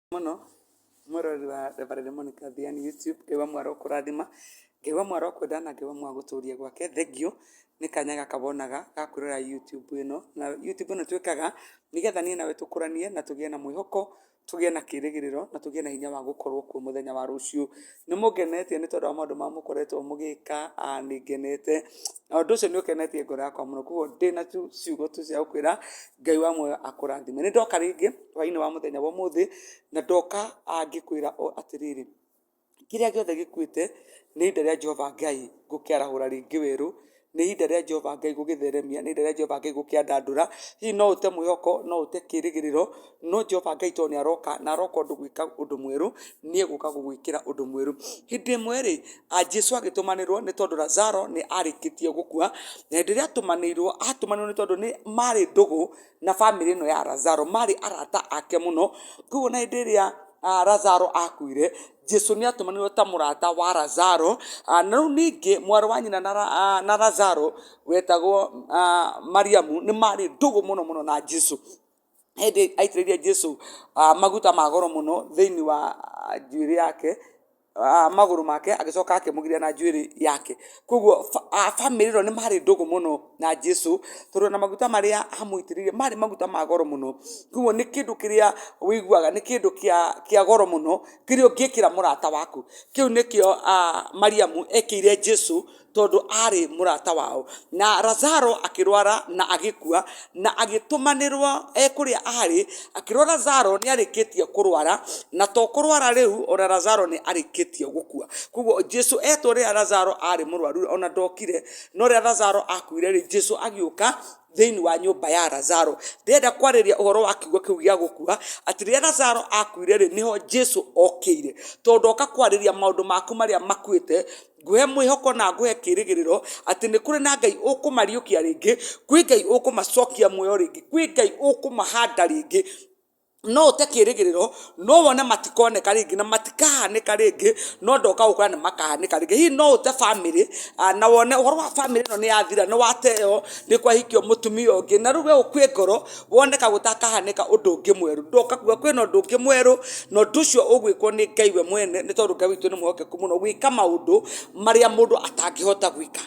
mũno mwĩroreri wa Reverend Monica Thia nĩ YouTube. Ngai wa Mwathani arokũrathima, Ngai wa Mwathani arokwenda na Ngai wa Mwathani agũtũrie gwake. Thengiũ nĩ kanya gaka wonaga ga kwĩrorera YouTube ĩno. Na YouTube ĩno twĩkaga nĩgetha niĩ nawe tũkũranie na tũgĩe na mwĩhoko, tũgĩe na kĩrĩgĩrĩro na tũgĩe na hinya wa gũkorwo kuo mũthenya wa rũciũ. Nĩ mũngenetie nĩ tondũ wa maũndũ marĩa mũkoretwo mũgĩka, nĩ ngenete, na ũndũ ũcio nĩ ũkenetie ngoro yakwa mũno. Kwoguo ndĩ na tũciugo tũu twa gũkwĩra, Ngai wa muoyo akũrathime. Nĩ ndoka rĩngĩ hwaĩ-inĩ wa mũthenya wa ũmũthĩ, na ndoka ngĩkwĩra o atĩrĩrĩ, kĩrĩa gĩothe gĩkuĩte, nĩ ihinda rĩa Jehova Ngai gũkĩarahũra rĩngĩ werũ, nĩ ihinda rĩa Jehova Ngai gũgĩtheremia, nĩ ihinda rĩa Jehova Ngai gũkĩandandũra, hihi no ũte mwĩhoko, no ũte kĩrĩgĩrĩro, no Jehova Ngai to nĩ aroka, na aroka ũndũ gwĩka ũndũ mwerũ, nĩ egũka gũgwĩkĩra ũndũ mwerũ. Hĩndĩ ĩmwe rĩ, Jesu agĩtũmanĩrwo nĩ tondũ Lazaro nĩ arĩkĩtie gũkua, na hĩndĩ ĩrĩa atũmanĩirwo, atũmanĩirwo nĩ tondũ nĩ marĩ ndũgũ, na bamĩrĩ ĩno ya Lazaro marĩ arata ake mũno, koguo ona hĩndĩ ĩrĩa Lazaro akuire, Jesũ nĩ atũmanirwo ta mũrata wa Lazaro, na rĩu ningĩ mwarĩ wa nyina na Lazaro wetagwo Mariamu nĩ marĩ ndũgũ mũno mũno na Jesũ, hĩndĩ aitĩrĩria Jesũ maguta ma goro mũno thĩiniĩ wa njuĩrĩ yake. magũrũ make, agĩcoka akĩmũgiria na njuĩrĩ yake. Kogwo bamĩrĩ ĩno nĩ marĩ ndũgũ mũno na Jesũ, tondũ ona maguta marĩa amũitĩrĩirie marĩ maguta ma goro mũno. Kogwo nĩ kĩndũ kĩrĩa ũiguaga nĩ kĩndũ kĩa goro mũno, kĩrĩa ũngĩkĩra mũrata waku. Kĩu nĩkĩo Mariamu ekĩire Jesũ tondũ aarĩ mũrata wao. Na Lazaro akĩrwara na agĩkua, na agĩtũmanĩrwo e kũrĩa aarĩ, akĩrwo Lazaro nĩ arĩkĩtie kũrwara, na to kũrwara rĩu, o na Lazaro nĩ arĩkĩtie gũkua. Kwoguo Jesu etwo rĩrĩa Lazaro aarĩ mũrwaru, o na ndokire, no rĩrĩa Lazaro akuire rĩ, Jesu agĩũka thĩinĩ wa nyũmba ya Lazaro. Ndĩrenda kwarĩria ũhoro wa kiugo kĩu gĩa gũkua, atĩ rĩrĩa Lazaro akuire rĩ, nĩho Jesu okĩire. To ndoka kwarĩria maũndũ maku marĩa makuĩte, Ngũhe mwĩhoko na ngũhe kĩĩrĩgĩrĩro atĩ nĩ kũrĩ na Ngai ũkũmariũkia rĩngĩ, kwĩ Ngai ũkũmacokia muoyo rĩngĩ, kwĩ Ngai ũkũmahanda rĩngĩ. No ũte kĩĩrĩgĩrĩro, no wone matikoneka rĩngĩ na matikahanĩka rĩngĩ, no ndoka gũkwĩra nĩ makahanĩka rĩngĩ. Hihi no ũte bamĩrĩ, na wone ũhoro wa bamĩrĩ ĩno nĩ yathira, nĩ wateeo, nĩ kwahikio mũtumia ũngĩ, na rĩu we ũkue ngoro, wone ka gũtakahanĩka ũndũ ũngĩ mwerũ ndoka kuga kwĩna ũndũ ũngĩ mwerũ na ũndũ ũcio ũgwĩkwo nĩ ngai we mwene nĩ tondũ ngai witũ nĩ mũhokeku mũno gwĩka maũndũ marĩa mũndũ atangĩhota gwĩka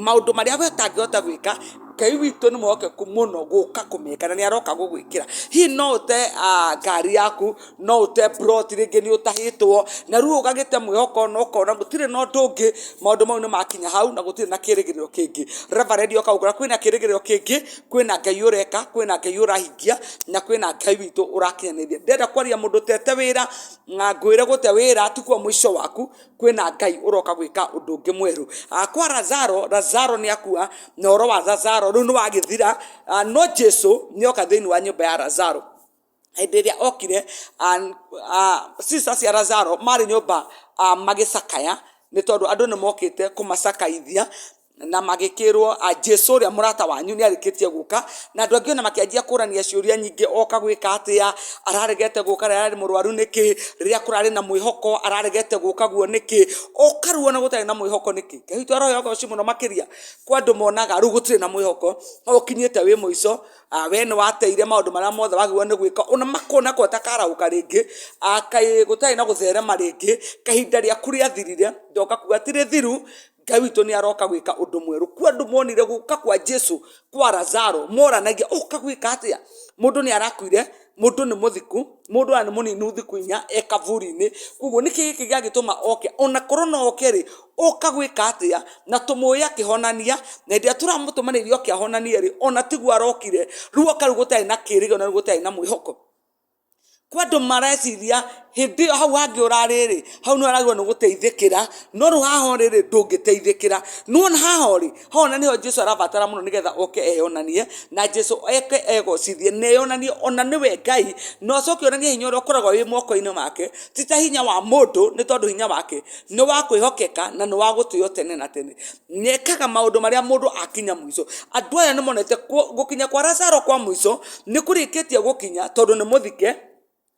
maũndũ marĩa we ũtangĩhota gwĩka ngai witũ nĩ mũhokeku mũno gũka kũmeka na nĩ aroka gũgwĩkĩra hihi no ũte ah, ngari yaku no ũte plot rĩngĩ nĩ ũtahĩtwo na rĩu ũgagĩte mwĩhoko na ũkona gũtirĩ na ũndũ ũngĩ maũndũ mau nĩ makinya hau na gũtirĩ na kĩrĩgĩrĩro kĩngĩ reverend oka gũkora kwĩna kĩrĩgĩrĩro kĩngĩ kwĩna ngai ũreka kwĩna ngai ũrahingia na kwĩna ngai witũ ũrakinyanĩria ndĩrenda kwaria mũndũ ũtete wĩra na ngwĩre gũte wĩra tikuo mũico waku kwĩna ngai ũroka gwĩka ũndũ ũngĩ mwerũ Ah, kwa razaro razaro nĩ akua na ũhoro wa razaro rĩu nĩ wagĩthira Ah, no jesu nĩ oka thĩinĩ wa nyũmba ya razaro hĩndĩ ĩrĩa okire cia razaro marĩ nyũmba magĩcakaya nĩ tondũ andũ nĩ mokĩte kũmacakaithia na magĩkĩrwo Jesũ ũrĩa mũrata wanyu nĩ arĩkĩtie gũka, na andũ angĩ ona makĩanjia kũrania ciũria nyingĩ oka gwĩka atĩa, araregete gũka rĩrĩa ararĩ mũrwaru nĩkĩ, rĩrĩa kũrarĩ na mwĩhoko araregete gũka guo nĩkĩ, ũkaruo ona gũtarĩ na mwĩhoko nĩkĩ, Ngai witũ aroywo agoco mũno makĩria kwa andũ monaga rĩu gũtirĩ na mwĩhoko, ũkinyĩte wĩ mũico. we nĩ wateire maũndũ marĩa mothe wagĩrĩirwo nĩ gwĩka, ona makona ko ũtakaraũka rĩngĩ, kaĩ gũtarĩ na gũtherema rĩngĩ, kahinda rĩaku rĩathirire, ndoka kuga ti rĩthiru, Ngai witũ nĩ aroka gwĩka ũndũ mwerũ, kwĩ andũ monire gũka kwa Jesũ kwa Lazaro moranagia ũka gwĩka atĩa, mũndũ nĩ arakuire. mũndũ nĩ mũthiku, mũndũ ona nĩ mũninu thikũ inya e kaburi-inĩ, koguo nĩkĩ gĩkĩ gĩagĩtũma oke, ona korwo no oke rĩ, oka gwĩka atĩa, na tũmũĩ akĩhonania, na hĩndĩ ĩrĩa tũramũtũmanĩrire oke ahonanie rĩ, ona tiguo arokire, rĩu oka rĩu gũtarĩ na kĩrĩgĩrĩro na rĩu gũtarĩ na mwĩhoko, kwandũ mareciria. hĩndĩ ĩyo hau hangĩ ũrarĩ rĩ, hau nĩ waragĩrĩirwo nĩ gũteithĩkĩra, no rĩu haha ũrĩ rĩ, ndũngĩteithĩkĩra. Nĩ wona haha ũrĩ, haha ona nĩho Jesu arabatara mũno nĩgetha oke eyonanie, na Jesu oke egocithie, na eyonanie ona nĩwe Ngai, na acoke eyonanie hinya ũrĩa ũkoragwo wĩ moko-inĩ make, ti ta hinya wa mũndũ, nĩ tondũ hinya wake nĩ wa kwĩhokeka, na nĩ wa gũtĩo tene na tene. Nĩ ekaga maũndũ marĩa mũndũ akinya mũico. Andũ aya nĩ monete gũkinya kwa Lazaro kwa mũico, nĩ kũrĩkĩtie gũkinya, tondũ nĩ mũthike.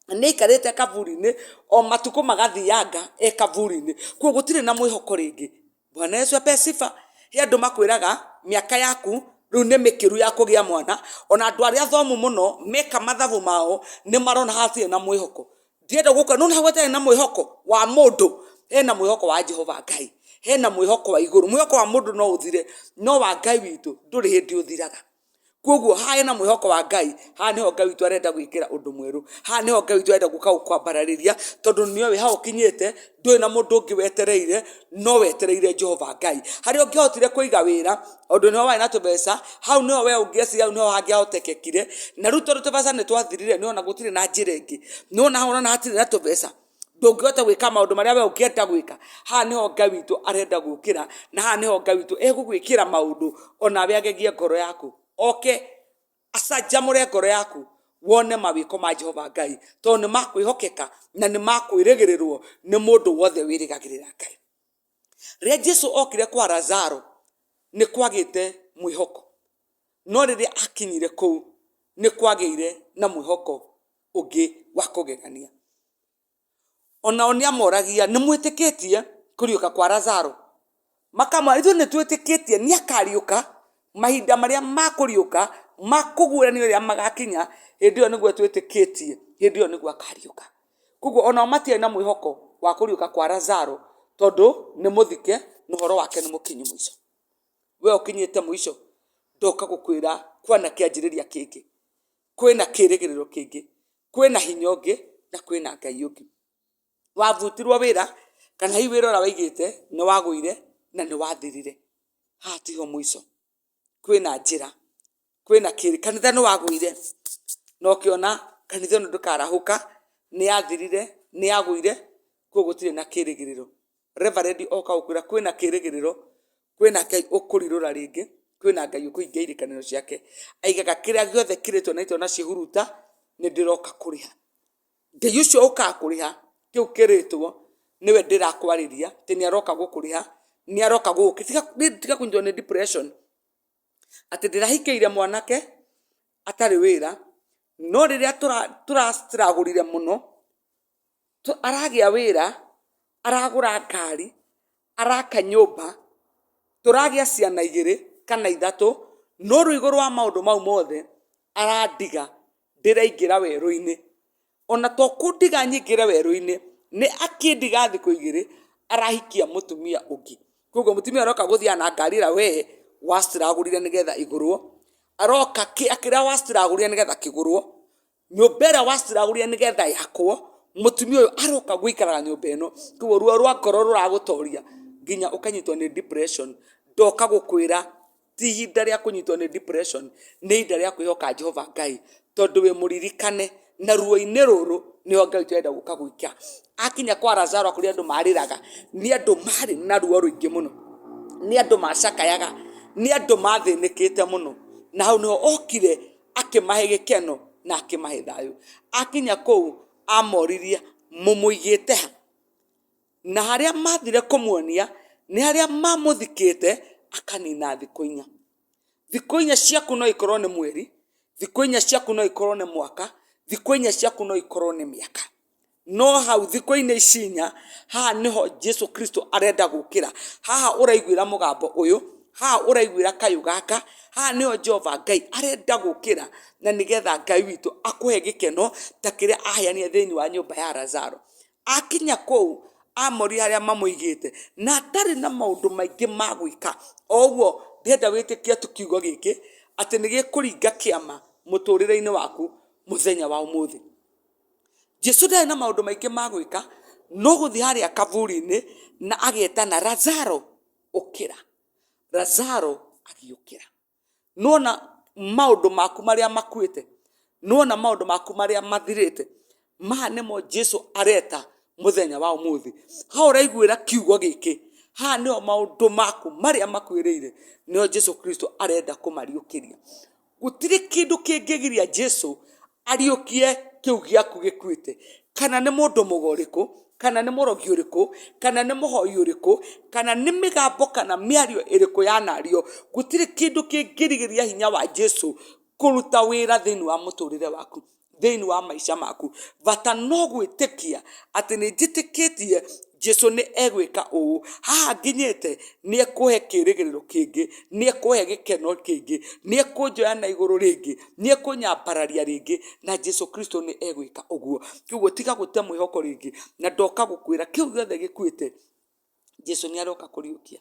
na nĩ aikarĩte kaburi-inĩ o matukũ magathianga e kaburi-inĩ, koguo gũtirĩ na mwĩhoko rĩngĩ. Bwana Yesu apewe sifa. He andũ makwĩraga mĩaka yaku rĩu nĩ mĩkĩru ya kũgĩa mwana, ona andũ arĩa athomu mũno meka mathabu mao nĩ marona hatirĩ na mwĩhoko. Ndĩrenda gũkwĩra nĩ wona hau hatarĩ na mwĩhoko wa mũndũ, hena mwĩhoko wa Jehova Ngai, hena mwĩhoko wa igũrũ. Mwĩhoko wa mũndũ no ũthire, no wa Ngai witũ ndũrĩ hĩndĩ ũthiraga. koguo haha hena mwĩhoko wa ngai haha nĩho ngai witũ arenda gwĩkĩra ũndũ mwerũ haha nĩho ngai witũ arenda gũka gũkwambararĩria tondũ nĩwe wĩ hau ũkinyĩte ndũrĩ na mũndũ ũngĩ wetereire no wetereire jehova ngai harĩa ũngĩahotire kũiga wĩra ũndũ nĩho warĩ na tũbeca hau nĩho we ũngĩacire hau nĩho hangĩahotekekire na rĩu tondũ tũbeca nĩ twathirire nĩona gũtirĩ na njĩra ĩngĩ nĩwona hau ona hatirĩ na tũbeca ndũngĩhota gwĩka maũndũ marĩa we ũngĩenda gwĩka haha nĩho ngai witũ arenda gũkĩra na haha nĩho ngai witũ egũgwĩkĩra maũndũ onawe agegie ngoro yaku oke acanjamũre ngoro yaku wone mawĩko ma jehova ngai tondũ nĩ makwĩhokeka na nĩ makwĩrĩgĩrĩrwo nĩ mũndũ wothe wĩrĩgagĩrĩra ngai Rĩrĩa Jesu okire kwa Lazaro, nĩ kwagĩte mwĩhoko. No rĩrĩa akinyire kũu, nĩ kwagĩire na mwĩhoko ũngĩ wa kũgegania. O nao nĩ amoragia, nĩ mwĩtĩkĩtie kũriũka kwa Lazaro? Makamwĩra, ithuĩ nĩ twĩtĩkĩtie nĩ akariũka, mahinda marĩa ma kũriũka, ma kũguũranio rĩrĩa magakinya, hĩndĩ ĩyo nĩguo twĩtĩkĩtie, hĩndĩ ĩyo nĩguo akariũka. Koguo onao matiarĩ na mwĩhoko wa kũriũka kwa Lazaro tondũ nĩ mũthike na ũhoro wake nĩ mũkinyu mũico. We ũkinyĩte mũico, ndoka gũkwĩra kwana kĩanjĩrĩria kĩngĩ, kwĩna kĩrĩgĩrĩro kĩngĩ, kwĩna hinya ũngĩ na kwĩna Ngai ũngĩ. Wabutirwo wĩra kana hihi wĩra ũrĩa waigĩte nĩ wagũire na nĩ wathirire, haha tiho mũico. kwĩna njĩra, kwĩna kĩrĩ, kanitha nĩ wagũire, na ũkĩona kanitha ĩno ndĩkarahũka, nĩ yathirire, nĩ yagũire, kũguo gũtirĩ na kĩrĩgĩrĩro. Reverend oka gũkwĩra kwĩna kĩrĩgĩrĩro, kwĩna Ngai ũkũrirũra rĩngĩ, kwĩna Ngai ũkũhingia irĩkanĩro ciake. Aigaga kĩrĩa gĩothe kĩrĩtwo na rĩtwa na ciĩhuruta, nĩ ndĩroka kũrĩha. Ngai ũcio ũkaga kũrĩha kĩu kĩrĩtwo nĩwe ndĩrakwarĩria atĩ nĩ aroka gũkũrĩha, nĩ aroka gũgũkĩrĩha. Tiga kũnyitwo nĩ depression atĩ ndĩrahikĩire mwanake atarĩ wĩra, no rĩrĩa tũra struggle ire mũno, aragĩa wĩra, aragũra ngari, araka nyũmba, tũragĩa ciana igĩrĩ kana ithatũ, no rĩu igũrũ wa maũndũ mau mothe, arandiga ndĩraingĩra werũ-inĩ. Ona to kũndiga nyingĩre werũ-inĩ, nĩ akĩndiga thikũ igĩrĩ, arahikia mũtumia ũngĩ. Kũguo mũtumia ũyũ aroka gũthiaga na ngari ĩrĩa we wacĩragũrire nĩgetha ĩgũrwo, aroka kĩrĩa wacĩragũrire nĩgetha kĩgũrwo, nyũmba ĩrĩa waciragũrire nĩ getha yakwo, mũtumia ũyũ aroka gũikara nyũmba ĩno, kũguo ruo rwa ngoro rũragũtoria nginya ũkanyitwo nĩ depression. Ndoka gũkwĩra ti ihinda rĩa kũnyitwo nĩ depression, nĩ ihinda rĩa kwĩhoka Jehova Ngai, tondũ wĩ mũririkane, na ruo-inĩ rũrũ nĩho Ngai ũrenda gũka gũka gũikia. Akinya kwa Lazaro a kũrĩa andũ marĩraga, nĩ andũ marĩ na ruo rũingĩ mũno, nĩ andũ macakayaga, nĩ andũ mathĩnĩkĩte mũno, na hau nĩho okire. akĩmahe gĩkeno na akĩmahe thayũ akinya kũu amoririe mũmũigĩte ha na harĩa mathire kũmuonia nĩ harĩa mamũthikĩte akanina thikũ inya thikũ inya ciaku no ikorwo nĩ mweri thikũ inya ciaku no ikorwo nĩ mwaka thikũ inya ciaku no ikorwo nĩ mĩaka No hau thikũ-inĩ ici inya, haha nĩho Jesu Kristo arenda gũkĩra. Haha ũraiguĩra mũgambo ũyũ, haha ũraiguĩra kayũ gaka, haha nĩho Jehova Ngai arenda gũkĩra, na nĩgetha Ngai witũ akũhe gĩkeno ta kĩrĩa aheanire thĩinĩ wa nyũmba ya Lazaro. Akinya kũu, amoria harĩa mamũigĩte, na atarĩ na maũndũ maingĩ ma gwĩka, o ũguo ndĩrenda wĩtĩkie tu kiugo gĩkĩ, atĩ nĩ gĩkũringa kĩama mũtũrĩre-inĩ waku mũthenya wa ũmũthĩ. Jesu ndarĩ na maũndũ maingĩ ma gwĩka, no gũthiĩ harĩa kaburi-inĩ na agetana Lazaro ũkĩra. Lazaro agĩũkĩra. Nĩ wona maũndũ maku marĩa makuĩte? Nĩ wona maũndũ maku marĩa mathirĩte? Maya nĩmo Jesu areta mũthenya wa ũmũthĩ. Harĩa ũraiguĩra kiugo gĩkĩ, haha nĩho maũndũ maku marĩa makuĩrĩire nĩho Jesu Kristo arenda kũmariũkĩria. gũtirĩ kĩndũ kĩngĩgiria jesu ariũkie kĩu gĩaku gĩkuĩte kana nĩ mũndũ mũga ũrĩkũ kana nĩ mũrogi ũrĩkũ kana nĩ mũhoi ũrĩkũ kana nĩ mĩgambo kana mĩario ĩrĩkũ yanario gũtirĩ kĩndũ kĩngĩrigĩrĩria hinya wa jesu kũruta wĩra thĩinĩ wa mũtũrĩre waku thĩinĩ wa maica maku bata no gwĩtĩkia atĩ nĩ njĩtĩkĩtie Jesũ nĩ egwĩka ũũ, haha nginyĩte nĩ ekũhe kĩrĩgĩrĩro kĩngĩ, nĩ ekũhe gĩkeno kĩngĩ, nĩ ekũnjoya na igũrũ rĩngĩ, nĩ ekũnyambararia rĩngĩ na Jesũ Kristo nĩ egwĩka ũguo. Koguo tiga gũte mwĩhoko rĩngĩ na ndoka gũkwĩra kĩu gĩothe gĩkuĩte Jesũ nĩ aroka kũriũkia.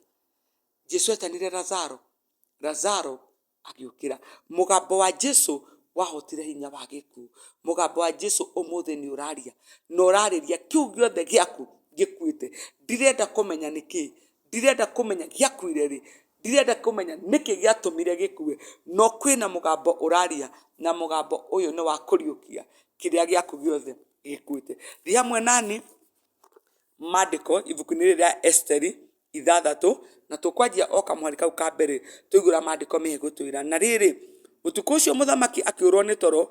Jesũ etanire Lazaro, Lazaro. agĩũkĩra. Mũgambo wa Jesu wahotire hinya wa gĩkuũ. Mũgambo wa Jesu ũmũthĩ nĩ ũraria na ũrarĩria kĩu gĩothe gĩaku gĩkuĩte. Ndirenda kũmenya nĩ kĩĩ, ndirenda kũmenya gĩakuire rĩ, ndirenda kũmenya nĩkĩ gĩatũmire gĩkue, no kwĩna mũgambo ũraria na mũgambo ũyũ nĩ wa kũriũkia kĩrĩa gĩaku gĩothe gĩkuĩte. Thiĩ hamwe nani. mandĩko ibuku-inĩ rĩrĩ rĩa Esiteri ithathatũ, na tũkwanjia o kamũhari kau ka mbere twaihũra mandĩko mehe gũtwĩra, Na rĩrĩ, ũtukũ ũcio mũthamaki akĩũrwo nĩ toro,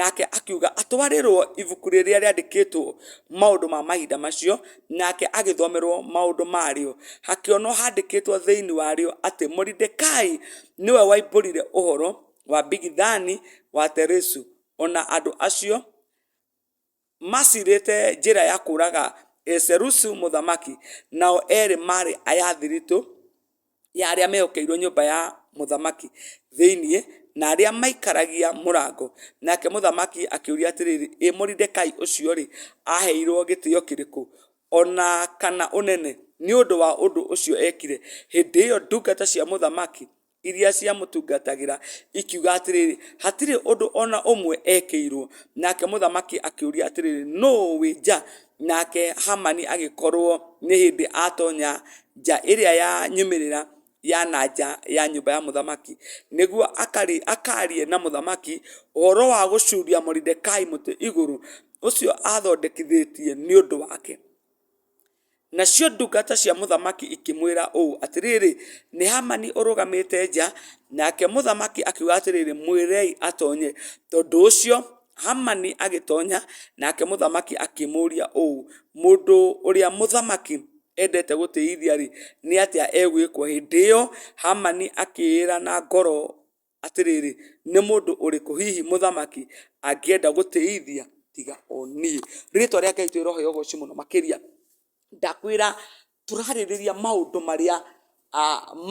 nake akiuga atwarĩrwo ibuku rĩrĩa rĩandĩkĩtwo maũndũ ma mahinda macio, nake agĩthomerwo maũndũ marĩo. Hakĩonwo handĩkĩtwo thĩinĩ warĩo atĩ Moridekai nĩwe waimbũrire ũhoro wa Bigithani wa Teresu, o na andũ acio maacirĩte njĩra ya kũũraga Zerusu mũthamaki, nao eerĩ maarĩ aya a thiritũ ya arĩa mehokeirwo nyũmba ya mũthamaki thĩinĩ, na arĩa maikaragia mũrango. Nake mũthamaki akĩũria atĩrĩrĩ, Ĩ Moridekai ũcio-rĩ, aaheirwo gĩtĩo kĩrĩkũ, o na kana ũnene, nĩ ũndũ wa ũndũ ũcio eekire? Hĩndĩ ĩyo ndungata cia mũthamaki iria ciamũtungatagĩra, ikiuga atĩrĩrĩ, Hatirĩ ũndũ o na ũmwe ekĩirwo. Nake mũthamaki akĩũria atĩrĩrĩ, Nũũ wĩ nja? Nake Hamani agĩkorwo nĩ hĩndĩ atonya nja ĩrĩa ya nyumĩrĩra ya na nja ya nyũmba ya mũthamaki, nĩguo akaarie na mũthamaki ũhoro wa gũcuria Moridekai mũtĩ igũrũ, ũcio aathondekithĩtie nĩ ũndũ wake. Nacio ndungata cia mũthamaki ikĩmwĩra ũũ, Atĩrĩrĩ, nĩ Hamani ũrũgamĩte nja. Nake mũthamaki akiuga atĩrĩrĩ, Mwĩrei atonye. Tondũ ũcio Hamani agĩtonya, nake mũthamaki akĩmũũria ũũ, Mũndũ ũrĩa mũthamaki endete gũtĩithia-rĩ, nĩ atĩa egwĩkwo? Hĩndĩ ĩyo Hamani akĩĩra na ngoro Atĩrĩrĩ, nĩ mũndũ ũrĩkũ hihi mũthamaki angĩenda gũtĩithia tiga o niĩ? Rĩtwa rĩa Ngai tũrĩrohe ũgoci mũno makĩria. Ndakwĩra tũrarĩrĩria maũndũ marĩa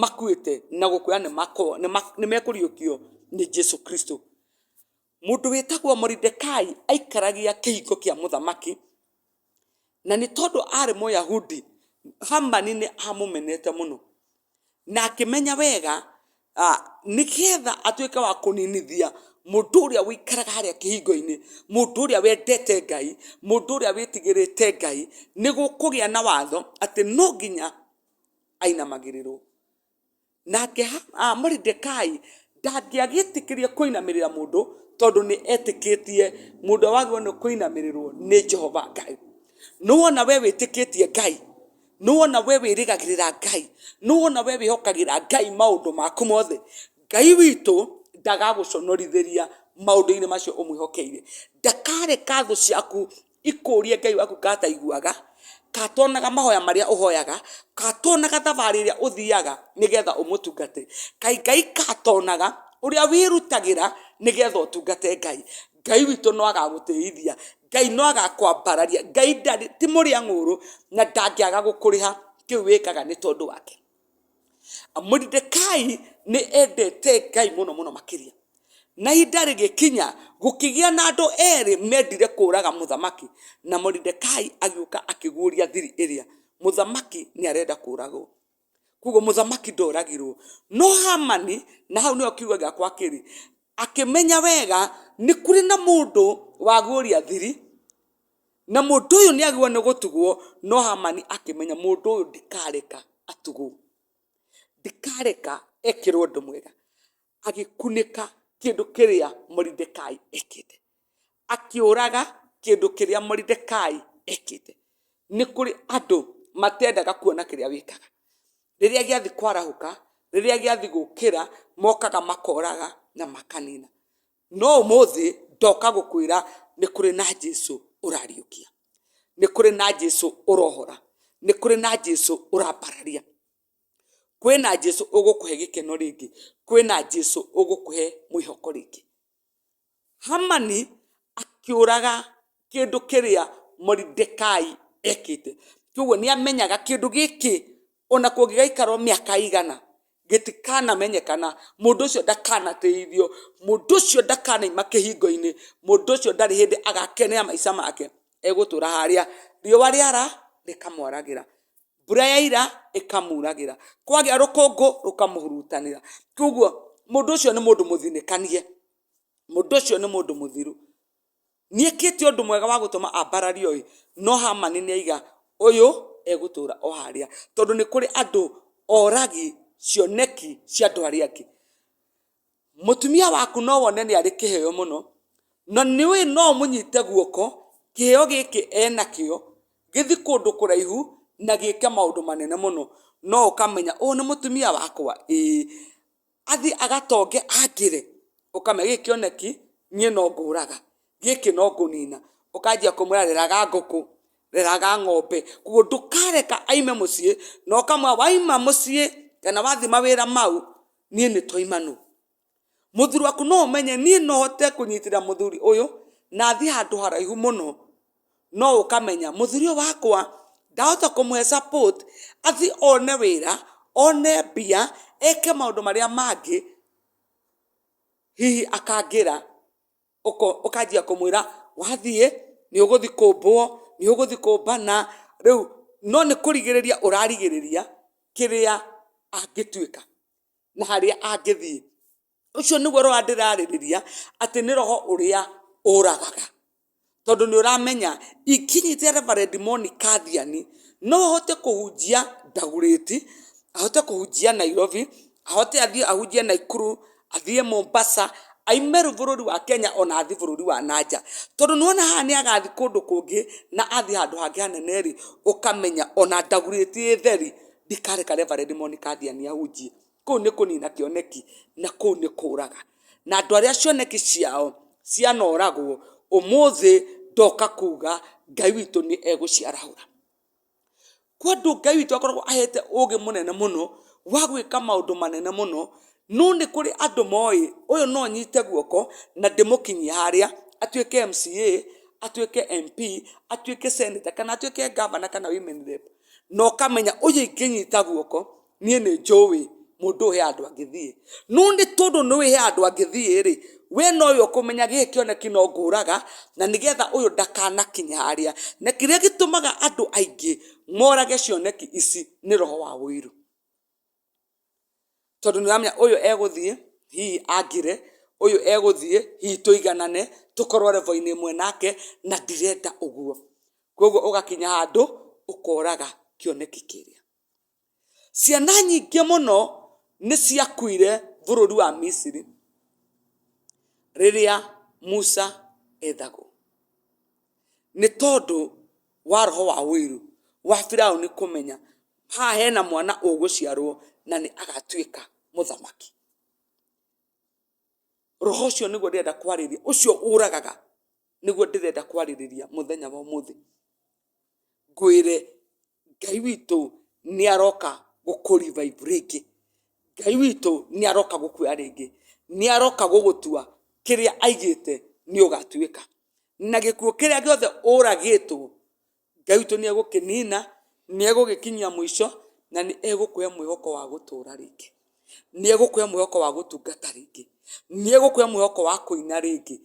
makuĩte na gũkũra nĩ mekũriũkio nĩ Jesu Kristo. Mũndũ wĩtagwo Moridekai aikaragia kĩhingo kĩa mũthamaki, na nĩ tondũ aarĩ Mũyahudi, Hamani nĩ amũmenete mũno. Na akĩmenya wega nĩ getha atuĩke wa kũninithia mũndũ ũrĩa ũikaraga harĩa kĩhingo-inĩ, mũndũ ũrĩa wendete Ngai, mũndũ ũrĩa wĩtigĩrĩte Ngai, nĩ gũkũgĩa na watho atĩ no nginya ainamagĩrĩrwo. Nake Ha- ah, Moridekai ndangĩagĩtĩkĩria kũinamĩrĩra mũndũ tondũ nĩ etĩkĩtie mũndũ wagĩrĩirwo nĩ kũinamĩrĩrwo nĩ jehova ngai nĩwona we wĩtĩkĩtie ngai nĩwona we wĩrĩgagĩrĩra ngai nĩwona we wĩhokagĩra ngai maũndũ maku mothe ngai witũ ndagagũconorithĩria maũndũ-inĩ macio ũmwĩhokeire ndakareka thũ ciaku ikũũrie Ngai waku kana ataiguaga, kana atonaga mahoya marĩa ũhoyaga, kana atonaga thabarĩ ĩrĩa ũthiaga nĩgetha ũmũtungate, kaĩ Ngai kana atonaga ũrĩa wĩrutagĩra nĩgetha ũtungate Ngai. Ngai witũ no agagũtĩithia, Ngai no agakwambararia, Ngai ti mũrĩa ng'ũũrũ na ndangĩaga gũkũrĩha kĩu wĩkaga nĩ tondũ wake. Moridekai nĩ endete Ngai mũno mũno makĩria. Na ihinda rĩgĩkinya, gũkĩgĩa na andũ erĩ mendire kũũraga mũthamaki, na Moridekai agĩũka akĩguũria thiri ĩrĩa, mũthamaki nĩ arenda kũũragwo. Kwoguo mũthamaki ndoragirwo. No Hamani, na hau nĩho kiugo gĩakwa kĩrĩ, akĩmenya wega, nĩ kũrĩ na mũndũ waguũria thiri, Na mũndũ ũyũ nĩ agĩrĩirwo nĩ gũtugwo, no Hamani akĩmenya mũndũ ũyũ ndikareka atugwo, ndikareka ekĩrwo ũndũ mwega. Agĩkunĩka kĩndũ kĩrĩa Moridekai ekĩte, akĩũraga kĩndũ kĩrĩa Moridekai ekĩte. Nĩ kũrĩ andũ matendaga kuona kĩrĩa wĩkaga. Rĩrĩa gĩathiĩ kwarahũka, rĩrĩa gĩathiĩ gũkĩra, mokaga makoraga na makanina. No ũmũthĩ ndoka gũkwĩra nĩ kũrĩ na Jesu ũrariũkia, nĩ kũrĩ na Jesu ũrohora, nĩ kũrĩ na Jesu ũrambararia, kwĩ na Jesu ũgũkũhe gĩkeno rĩngĩ, kwĩ na Jesu ũgũkũhe mwĩhoko rĩngĩ. Hamani akĩũraga kĩndũ kĩrĩa Moridekai ekĩte. Kwoguo nĩ amenyaga kĩndũ gĩkĩ ona kũngĩgaikarwo mĩaka ĩigana, gĩtikanamenyekana, mũndũ ũcio ndakanatĩithio, mũndũ ũcio ndakanauma kĩhingo-inĩ, mũndũ ũcio ndarĩ hĩndĩ agakenera maica make egũtũra harĩa. Riũa rĩara rĩkamwaragĩra, mbura yaira ĩkamuragĩra, kwagĩa rũkũngũ rũkamũhurutanĩra. Kwoguo mũndũ ũcio nĩ mũndũ mũthinĩkanie, mũndũ ũcio nĩ mũndũ mũthiru. nĩ ekĩte ũndũ mwega wa gũtũma ambarario ĩ no hamani nĩ aiga ũyũ egũtũra o harĩa tondũ nĩ kũrĩ andũ oragi cioneki cia andũ arĩa angĩ mũtumia waku no wone nĩ arĩ kĩheo mũno na nĩ ũĩ no ũmũnyite guoko kĩheo gĩkĩ enakĩo gĩthi kũndũ kũraihu na gĩke maũndũ manene mũno no ũkamenya ũyũ nĩ mũtumia wakwa ĩĩ. athiĩ agatonge angĩre, ũkamenya gĩkĩ kĩoneki niĩ no ngũraga, gĩkĩ no ngũnina, ũkanjia kũmwĩra reraga ngũkũ, reraga ng'ombe, koguo ndũkareka aime mũciĩ, na ũkamwĩra waima mũciĩ kana wathiĩ mawĩra mau, niĩ nĩ twaima nũ. Mũthuri waku no ũmenye niĩ no hote kũnyitĩrĩra mũthuri ũyũ na thiĩ handũ haraihu mũno. no ũkamenya mũthuri ũyũ wakwa ndahota kũmũhe support athiĩ one wĩra, one mbia, eke maũndũ marĩa mangĩ, hihi akangĩra, ũkanjia kũmwĩra wathiĩ nĩ ũgũthiĩ kũmbwo, nĩ ũgũthiĩ kũmbana, rĩu no nĩ kũrigĩrĩria ũrarigĩrĩria kĩrĩa angĩtuĩka na harĩa angĩthiĩ. ũcio nĩguo roho ndĩrarĩrĩria atĩ nĩ roho ũrĩa ũragaga tondũ nĩ ũramenya ingĩnyita reverend monica thiani no ahote kũhunjia ndagurĩti ahote kũhunjia nairobi ahote athiĩ ahunjie naikuru athiĩ mombasa aime rũĩ bũrũri wa kenya ona athiĩ bũrũri wa na nja tondũ nĩ wona haha nĩ agathiĩ kũndũ kũngĩ na athiĩ handũ hangĩ hanene rĩ ũkamenya ona ndagurĩti ĩ theri ndikareka reverend monica thiani ahunjie kũu nĩ kũnina kĩoneki na kũu nĩ kũraga na andũ arĩa cioneki ciao cianoragwo ũmũthĩ ndoka kuga ngai witũ nĩ egũciarahũra kwa andũ ngai witũ akoragwo ahete ũgĩ mũnene mũno wa gwĩka maũndũ manene mũno no nĩ kũrĩ andũ moĩ ũyũ no nyite guoko na ndĩmũkinyie harĩa atuĩke MCA atuĩke MP atuĩke senator kana atuĩke governor kana women rep na ũkamenya ũyũ ingĩnyita guoko niĩ nĩ njũĩ mũndũ ũyũ he handũ angĩthiĩ no nĩ tondũ nĩ ũĩ he handũ angĩthiĩ rĩ we no we ũkũmenya gĩkĩ kĩoneki no ngũraga na nĩ getha ũyũ ndakanakinye harĩa na kĩrĩa gĩtũmaga andũ aingĩ morage cioneki ici nĩ roho wa ũiru tondũ nĩ ũramenya ũyũ egũthiĩ hihi angĩre ũyũ egũthiĩ hihi tũiganane tũkorwo level inĩ ĩmwe nake na ndirenda ũguo kwoguo ũgakinya handũ ũkoraga kĩoneki kĩrĩa. Ciana nyingĩ mũno nĩ ciakuire bũrũri wa misiri rĩrĩa musa ethagwo nĩ tondũ wa roho wa ũiru wa firaũni kũmenya haha hena mwana ũgũciarwo na nĩ agatuĩka mũthamaki roho ũcio nĩguo ndĩrenda kwarĩria ũcio ũragaga nĩguo ndĩrenda kwarĩrĩria mũthenya wa ũmũthĩ ngwĩre Ngai witũ nĩ aroka gũkũ revive rĩngĩ, Ngai witũ nĩ aroka gũkuoya rĩngĩ, nĩ aroka gũgũtua, kĩrĩa aigĩte nĩ ũgatuĩka, na gĩkuũ kĩrĩa gĩothe ũragĩtwo, Ngai witũ nĩ egũkĩnina, nĩ egũgĩkinyia mũico, na nĩ egũkũhe mwĩhoko wa gũtũra rĩngĩ. nĩ egũkũhe mwĩhoko wa gũtungata rĩngĩ, nĩ egũkũhe mwĩhoko wa kũina rĩngĩ,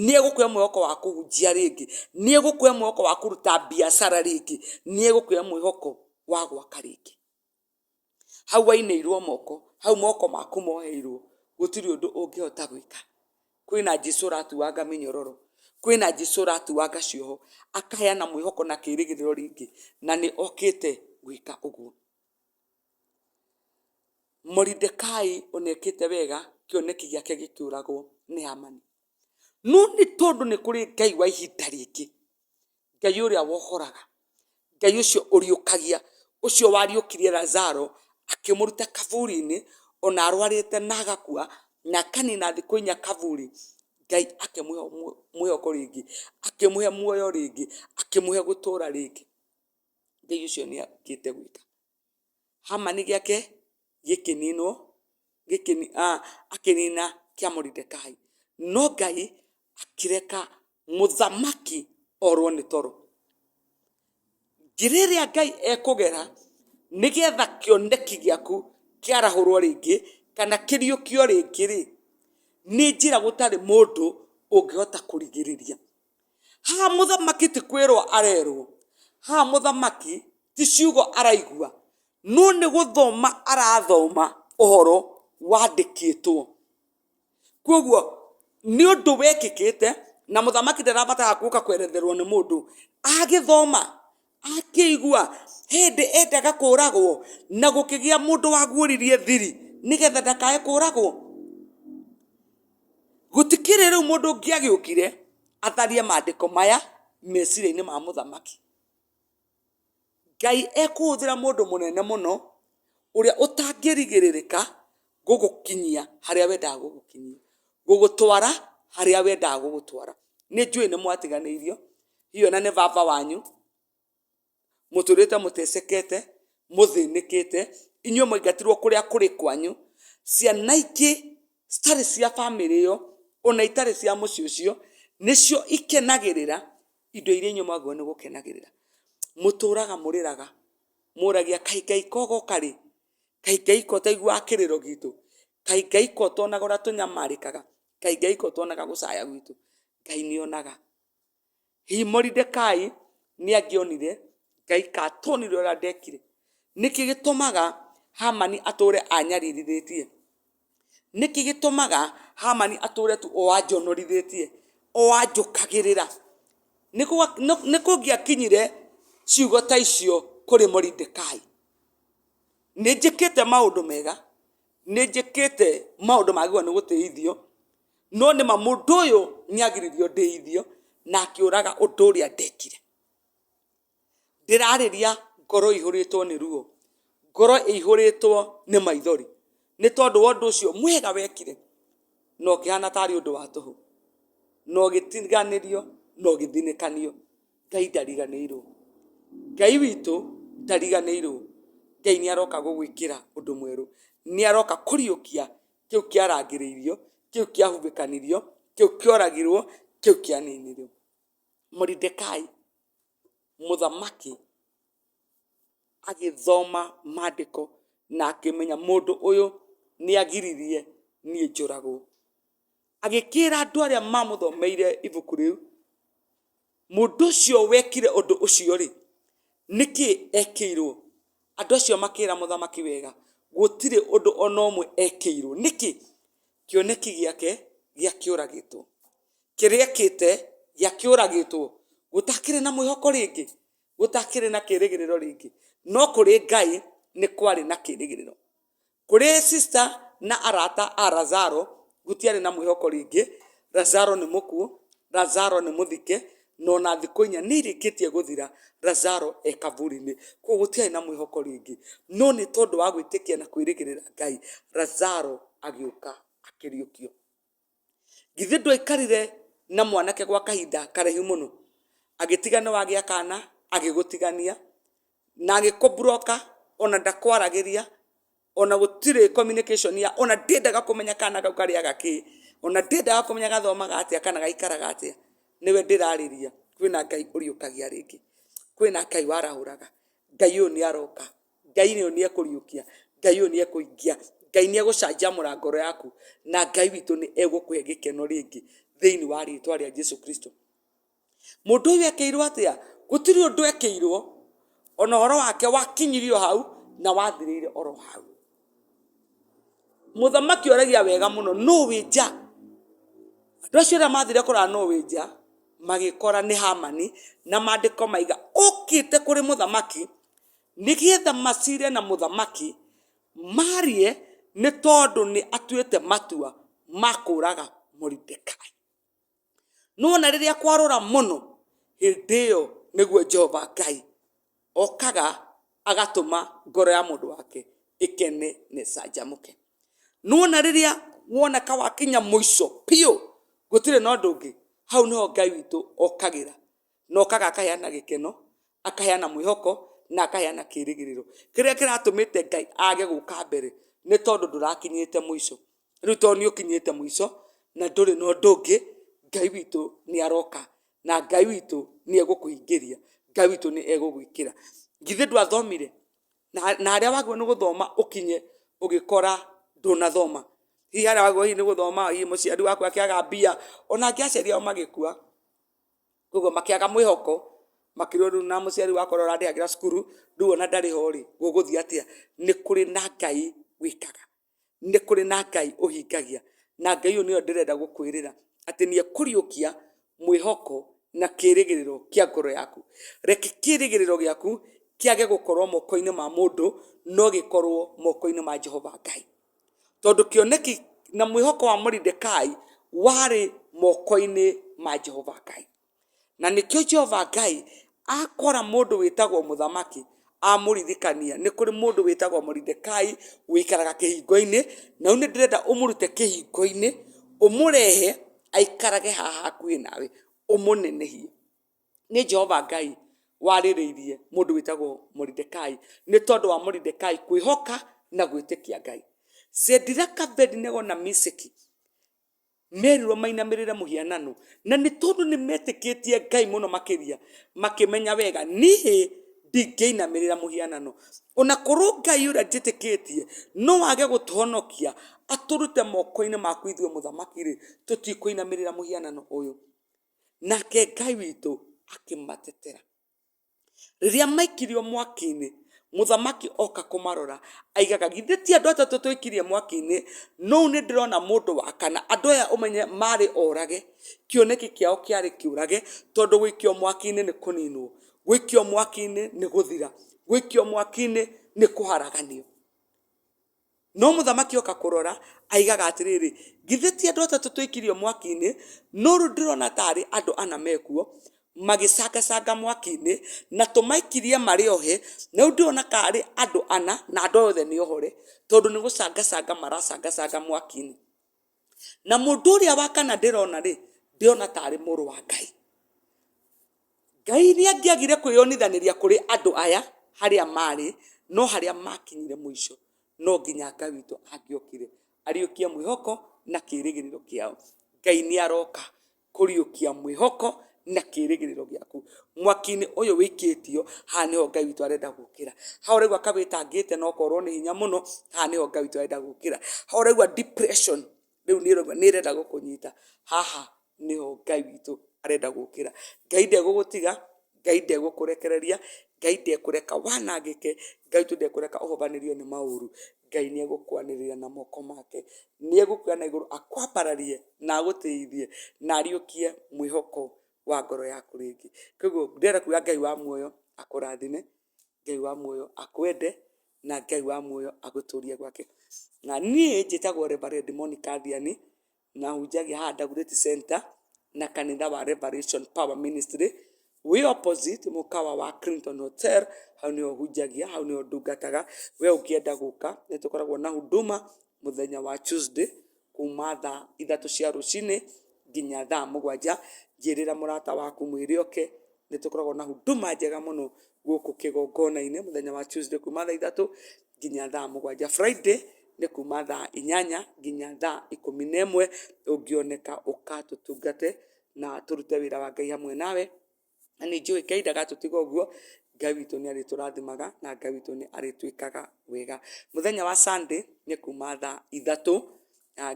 nĩ egũkũhe mwĩhoko wa kũhunjia rĩngĩ, nĩ egũkũhe mwĩhoko wa kũruta mbiacara rĩngĩ, nĩ egũkũhe mwĩhoko wa gwaka rĩngĩ. Hau wainĩirwo moko, hau moko maku moheirwo, gũtirĩ ũndũ ũngĩhota gwĩka. Kwĩna Jesũ ũratuanga mĩnyororo, kwĩna Jesũ ũratuanga cioho, akaheana mwĩhoko na kĩrĩgĩrĩro rĩngĩ, na nĩ okĩte gwĩka ũguo. Moridekai ona ekĩte wega kĩoneki gĩake gĩkĩũragwo nĩ Hamani. No nĩ tondũ nĩ kũrĩ Ngai wa ihinda rĩngĩ, Ngai ũrĩa wohoraga, Ngai ũcio ũriũkagia, ũcio wariũkirie Lazaro akĩmũruta kaburi-inĩ ona arwarĩte na agakua, na akanina thikũ inya kaburi, Ngai akĩmũhe mwĩhoko rĩngĩ, akĩmũhe muoyo rĩngĩ, akĩmũhe gũtũũra rĩngĩ. Ngai ũcio nĩ okĩte gwĩka. Hamani gĩake gĩkĩninwo, gĩkĩni, aah akĩnina kĩa Moridekai. No Ngai akĩreka mũthamaki orwo nĩ toro. Njĩra ĩrĩa Ngai ekũgera nĩgetha kĩoneki gĩaku kĩarahũrwo rĩngĩ, kana kĩriũkio rĩngĩ-rĩ, nĩ njĩra gũtarĩ mũndũ ũngĩhota kũrigĩrĩria. Haha mũthamaki ti kwĩrwo arerwo, haha mũthamaki ti ciugo araigua, no nĩ gũthoma arathoma ũhoro wandĩkĩtwo. Koguo nĩ ũndũ wekĩkĩte, na mũthamaki ndarabatara gũka kweretherwo nĩ mũndũ, agĩthoma Akĩigua hĩndĩ endaga kũũragwo na gũkĩgĩa mũndũ waguũririe thiri nĩgetha ndakae kũũragwo. Gũtikĩrĩ rĩu mũndũ ũngĩ agĩũkire atharie maandĩko maya meciria-inĩ ma mũthamaki. Ngai ekũhũthĩra mũndũ mũnene mũno ũrĩa ũtangĩrigĩrĩrĩka gũgũkinyia harĩa wendaga gũgũkinyia, gũgũtwara harĩa wendaga gũgũtwara. Nĩ njũĩ nĩ mwatiganĩirio hihi ona nĩ baba wanyu mũtũrĩte mũtecekete mũthĩnĩkĩte inyuĩ mwaingatirwo kũrĩa kũrĩ kwanyu ciana ingĩ citarĩ cia bamĩrĩ ĩyo ona itarĩ cia mũciĩ ũcio nĩcio ikenagĩrĩra indo iria inyuĩ mwagĩrĩirwo nĩ gũkenagĩrĩra mũtũraga mũrĩraga mũragia kaĩ ngai kogoka rĩ kaĩ ngai ko taiguaga kĩrĩro gitũ kaĩ ngai ko tonaga ũrĩa tũnyamarĩkaga kaĩ ngai ko tonaga gũcaya gwitũ ngai nĩonaga Hihi Moridekai nĩ angĩonire Ngai ka atonire ũrĩa ndekire? Nĩkĩ gĩtũmaga Hamani atũre anyaririthĩtie? Nĩkĩ gĩtũmaga Hamani atũre tu o anjonorithĩtie, o anjũkagĩrĩra? Nĩ gwa- nĩ- nĩ kũngĩakinyire ciugo ta icio kũrĩ Moridekai. Nĩ njĩkĩte maũndũ mega, nĩ njĩkĩte maũndũ magĩrĩirwo nĩ gũtĩithio, no nĩ ma mũndũ ũyũ nĩ agiririo ndĩithio na akĩũraga ũndũ ũrĩa ndekire ndĩrarĩria ngoro ihũrĩtwo nĩ ruo ngoro ĩihũrĩtwo nĩ maithori nĩ tondũ wa ũndũ ũcio mwega wekire na ũkĩhana tarĩ ũndũ wa tũhũ na ũgĩtiganĩrio na ũgĩthinĩkanio ngai ndariganĩirwo ngai witũ ndariganĩirwo ngai nĩ aroka gũgwĩkĩra ũndũ mwerũ nĩ aroka kũriũkia kĩu kĩarangĩrĩirio kĩu kĩahumbĩkanirio kĩu kĩoragirwo kĩu kĩaninirwo moridekai mũthamaki agĩthoma maandĩko na akĩmenya mũndũ ũyũ nĩ agiririe niĩ njũragwo Agĩkĩĩra andũ arĩa maamũthomeire ibuku rĩu, Mũndũ ũcio wekire ũndũ ũcio-rĩ, nĩ kĩ ekĩirũo? Andũ acio makĩĩra mũthamaki wega, Gũtirĩ ũndũ o na ũmwe ekĩirũo. Nĩkĩ? Kĩoneki gĩake gĩakĩũragĩtwo. Kĩrĩa ekĩte gĩakĩũragĩtwo. Gũtakĩrĩ na mwĩhoko rĩngĩ. Gũtakĩrĩ na kĩĩrĩgĩrĩro rĩngĩ. No kũrĩ Ngai nĩ kwarĩ na kĩĩrĩgĩrĩro. Kũrĩ sista na arata a Lazaro gũtiarĩ na mwĩhoko rĩngĩ. Lazaro nĩ mũkuũ, Lazaro nĩ mũthike, na ona thikũ inya nĩ irĩkĩtie gũthira, Lazaro e kaburi-inĩ. Kwoguo gũtiarĩ na mwĩhoko rĩngĩ. No nĩ tondũ wa gwĩtĩkia na kwĩrĩgĩrĩra Ngai, Lazaro agĩũka akĩriũkio. githĩ ndwaikarire na mwanake gwa kahinda karaihu mũno agĩtigana wagĩa kana agĩgũtigania na agĩkũ broker ona ndakwaragĩria ona gũtirĩ communication ya ona ndĩendaga kũmenya kana kau karĩaga kĩ ona ndĩendaga kũmenya gathomaga atĩa kana gaikaraga atĩa nĩwe ndĩrarĩria kwĩna Ngai ũriũkagia rĩngĩ kwĩna Ngai warahũraga Ngai ũyũ nĩaroka. Ngai ũyũ nĩ ekũriũkia, Ngai ũyũ nĩ ekũhingia, Ngai nĩ egũcanjamũra ngoro yaku, na Ngai witũ nĩ egũkũhe gĩkeno rĩngĩ thĩinĩ wa rĩtwa rĩa Jesu Kristo. Mũndũ ũyũ ekĩirwo atĩa? Gũtirĩ ũndũ ekĩirwo, ona ũhoro wake wakinyirio hau na wathirĩire oro hau. Mũthamaki oragia wega mũno, nũ wĩ nja? Andũ acio arĩa mathire kũrora nũ wĩ nja, magĩkora nĩ Hamani, na maandĩko maiga, ũkĩte kũrĩ mũthamaki, nĩgetha macire na mũthamaki, marie nĩ tondũ nĩ atuĩte matua ma kũraga Moridekai. Nĩwona rĩrĩa kwarũra mũno, hĩndĩ ĩyo nĩguo Jehova Ngai okaga agatũma ngoro ya mũndũ wake ĩkene na ĩcanjamũke. Nĩwona rĩrĩa woneka wakinya mũico biũ, gũtirĩ na ũndũ ũngĩ, hau nĩho Ngai witũ okagĩra, na okaga akaheana gĩkeno akaheana mwĩhoko na akaheana kĩrĩgĩrĩro kĩrĩa kĩratũmĩte ngai age gũka mbere nĩ tondũ ndũrakinyĩte mũico rĩu tondũ nĩ ũkinyĩte mũico na ndũrĩ na ũndũ ũngĩ ngai witũ nĩ aroka na ngai witũ nĩ egũkũhingĩria ngai witũ nĩ egũgwĩkĩra githĩ ndwathomire na na harĩa wagĩrĩirwo nĩ gũthoma ũkinye ũgĩkora ndũnathoma hihi harĩa wagĩrĩirwo hihi nĩ gũthoma hihi mũciari waku akĩaga mbia ona angĩ aciari ao magĩkua Koguo makĩaga mwĩhoko, makĩrwo rĩu na mũciari wakwa ũrĩa ũrandĩhagĩra cukuru, rĩu ona ndarĩ ho rĩ, gũgũthiĩ atĩa? Nĩ kũrĩ na Ngai wĩkaga. Nĩ kũrĩ na Ngai ũhingagia. Na Ngai ũyũ nĩwe ndĩrenda gũkwĩrĩra, atĩ nĩ ekũriũkia mwĩhoko na kĩĩrĩgĩrĩro kĩa ngoro yaku. Reke kĩĩrĩgĩrĩro gĩaku kĩage gũkorwo moko-inĩ ma mũndũ, no gĩkorwo moko-inĩ ma Jehova Ngai. tondũ kĩoneki na mwĩhoko wa Moridekai warĩ moko-inĩ ma Jehova Ngai. Na nĩkĩo Jehova Ngai akora mũndũ wĩtagwo mũthamaki amũririkania nĩ kũrĩ mũndũ wĩtagwo Moridekai ũikaraga kĩhingo-inĩ, na rĩu nĩ ndĩrenda ũmũrute kĩhingo-inĩ ũmũrehe aikarage haha hakuhĩ nawe ũmũnenehie. nĩ Jehova Ngai warĩrĩirie mũndũ wĩtagwo Moridekai nĩ tondũ wa Moridekai kwĩhoka na gwĩtĩkia Ngai. Cediraka, Abedinego na Miseki merirwo mainamĩrĩre mũhianano na nĩ tondũ nĩ metĩkĩtie Ngai mũno makĩria makĩmenya wega niĩ ndingĩinamĩrĩra mũhianano. Ona korwo Ngai ũrĩa njĩtĩkĩtie no age gũtũhonokia atũrute moko-inĩ maku ithuĩ mũthamaki-rĩ, tũtikũinamĩrĩra mũhianano ũyũ. nake Ngai witũ akĩmatetera. Rĩrĩa maikirio mwaki-inĩ, mũthamaki oka kũmarora, augaga githĩ ti andũ atatũ twaikirie mwaki-inĩ, no rĩu nĩ ndĩrona mũndũ wa kana. Andũ aya ũmenye marĩ orage, kĩoneki kĩao kĩarĩ kĩũrage, tondũ gũikio mwaki-inĩ nĩ kũninwo, gũikio mwaki-inĩ nĩ gũthira, gũikio mwaki-inĩ nĩ kũharaganio. No mũthamaki oka kũrora, aigaga atĩrĩrĩ, githĩ ti andũ atatũ twĩkirio mwaki-inĩ? No rĩu ndĩrona tarĩ andũ ana mekuo, magĩcangacanga mwaki-inĩ, na tũmaikirie marĩ ohe, na rĩu ndĩrona karĩ andũ ana, na andũ aya othe nĩ ohore, tondũ nĩ gũcangacanga maracangacanga mwaki-inĩ. na mũndũ ũrĩa wa kana ndĩrona rĩ ndĩrona tarĩ mũrũ wa ngai ngai nĩ angĩagire kwĩyonithanĩria kũrĩ andũ aya harĩa marĩ no harĩa makinyire mũico no nginya ngai witũ angĩokire ariũkie mwĩhoko na kĩrĩgĩrĩro kĩao ngai nĩ aroka kũriũkia mwĩhoko na kĩrĩgĩrĩro gĩaku mwaki-inĩ ũyũ wĩikĩtio haha nĩho ngai witũ arenda gũkĩra ha ũraigua kawĩtangĩte na ũkorwo nĩ hinya mũno haha nĩho ngai witũ arenda gũkĩra ha ũraigua depression rĩu nĩ ũraigua nĩ ĩrenda gũkũnyita haha nĩho ngai witũ arenda gũkĩra ngai ndegũgũtiga ngai ndegũkũrekereria ngai ndekũreka wanangĩke ngai witũ ndekũreka ũhobanĩrio nĩ maũru Ngai nĩ egũkwanĩrĩra na moko make, nĩ egũkuoya na igũrũ akwambararie na agũtĩithie na ariũkie mwĩhoko wa ngoro yaku rĩngĩ. Koguo ndĩrenda kuga Ngai wa muoyo akũrathime, Ngai wa muoyo akwende na Ngai wa muoyo agũtũrie gwake. Na niĩ njĩtagwo Reverend Monica Thiani. na hunjagia haha Dagoretti Center na kanitha wa Revelation Power Ministry wĩ opposite mũkawa wa Clinton Hotel hau nĩho hunjagia hau nĩho ndungataga we ũngĩenda gũka nĩ tũkoragwo na huduma mũthenya wa Tuesday kuma thaa ithatũ cia rũcinĩ nginya thaa mũgwanja njĩrĩra mũrata waku mwĩrĩ oke nĩ tũkoragwo na huduma njega mũno gũkũ kĩgongona-inĩ mũthenya wa Tuesday kuma thaa ithatũ nginya thaa mũgwanja. Friday nĩ kuuma thaa inyanya nginya thaa ikũmi na ĩmwe, ũngĩoneka ũka tũtungate na tũrute wĩra wa Ngai hamwe nawe. Na nĩ njũĩ Ngai ndagatũtiga ũguo, Ngai witũ nĩ arĩtũrathimaga na Ngai witũ nĩ arĩtwĩkaga wega. Mũthenya wa Sunday nĩ kuuma thaa ithatũ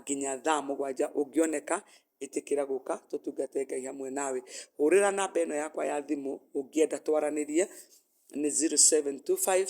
nginya thaa mũgwanja, ũngĩoneka ĩtĩkĩra gũka tũtungate Ngai hamwe nawe. Hũrĩra namba ĩno yakwa ya thimũ ũngĩenda twaranĩrie nĩ zero, seven, two, five...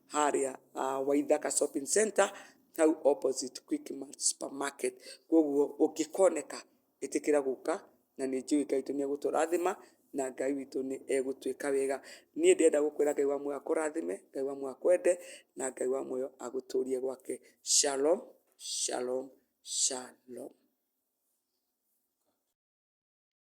harĩa Waithaka Shopping Centre hau opposite Quickmart Supermarket. Kwoguo ũngĩkoneka ĩtĩkĩra gũka na nĩ njũĩ Ngai witũ nĩ egũtũrathima na Ngai witũ nĩ egũtwĩka wega. Niĩ ndĩrenda gũkwĩra Ngai wa muoyo akũrathime, Ngai wa muoyo akwende na Ngai wa muoyo agũtũrie gwake. Shalom, shalom, shalom.